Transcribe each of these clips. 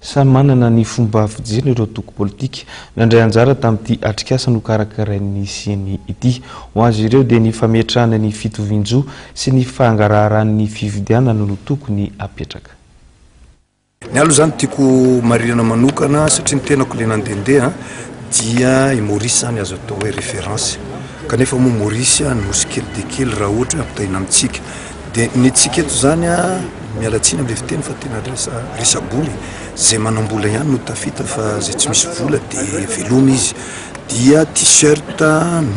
Samy manana ny fomba fijeriny ireo toko politika nandray anjara tamin'ity atrikasa nokarakarain'ny Ceni ity. Ho azy ireo dia ny fametrahana ny fitovian-jo sy ny fangaraharan'ny fifidianana no tokony apetraka. Ny ahy aloha izany tiako marinana manokana satria ny tenako ilay nandehandeha dia i Maurice izany azo atao hoe référence kanefa moa Maurice nosy kely dia kely raha ohatra hoe ampitahaina amintsika. Dia ny antsika eto izany a, miala tsiny amin'ilay fiteny fa tena resa resabola e, izay manam-bola ihany no tafita fa izay tsy misy vola dia veloma izy, dia t-shirt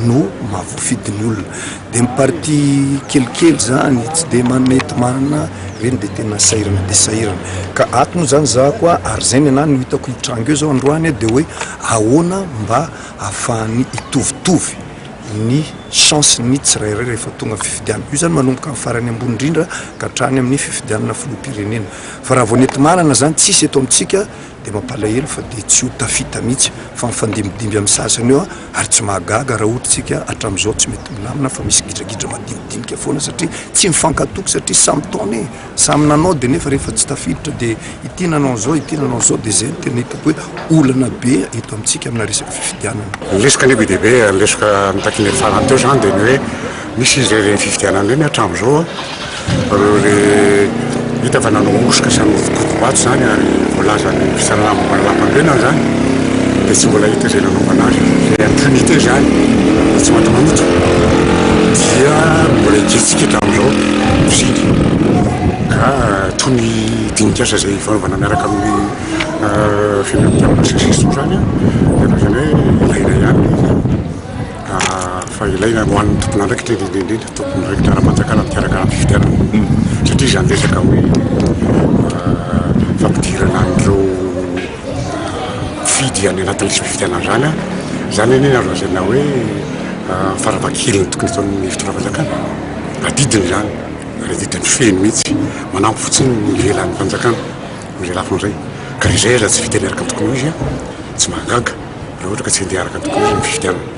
no mahavoafidin'ny olona, dia ny partie kelikely izany tsy dia mety manana ireny dia tena sahirana dia sahirana, ka ato moa izany za koa ary izay ny anah no hitako hitranga eo izao androany dia hoe ahoana mba ahafahan'ny hitovitovy. ny chance ny tsirairay rehefa tonga ny fifidianana. Io zany manomboka amin'ny farany ambony indrindra ka hatrany amin'ny fifidianana filoham-pirenena. Fa raha vao nentimarana zany tsisy eto amintsika dia mampalahelo fa dia tsy ho tafita mihitsy fa mifandimbidimby amin'ny sasany eo ary tsy mahagaga raha ohatra isika hatramin'izao tsy mety milamina fa misy gidragidra madinidinika foana satria tsy mifankatoky satria samy taona e! Samy nanao dia nefa rehefa tsy tafiditra dia ity nanao an'izao, ity nanao an'izao dia izay no tena hitako hoe olana be eto amintsika amina resaka fifidianana. Ny lesoka anie be dia be, ny lesoka nitakian'ireny farany teo izany dia ny hoe misy izy ireny fifidianana ireny hatramin'izao ireo re hita fa nanao hosoka sy nanao fokodim-bato izany ary voalazan'ny fisarahana momba ny lampam-pirenana izany dia tsy mbola hita izay nanaovana azy ilay impunité izany, ilay tsy matahotra dia mbola hikitsiky hatramin'izao. Mividy toy ny dinikasa izay fanaovana miaraka amin'ny fianakaviana sy ny sisa toy izany an, izany hoe ilaina ihany ilay izy fa ilaina ho an'ny tompon'andraikitra indrindra indrindra, tompon'andraikitra ara-panjakana mikarakara ny fifidianana satria izany resaka hoe fampidirana an'ireo. fifidy any anatin'ny lisitry fifidianandrana zany anie azo lazaina hoe ah, farafahakeliny tokony ataon'ny fitondram-panjakana adidiny izany ary adidiny feno mihitsy manampy fotsiny ny ivelan'ny fanjakana izay lafiny izay ka izay aza tsy fidiany araka ny tokony ho izy ah, tsy mahagaga raha ohatra ka tsy handeha araka ny tokony ho izy ny fifidianana.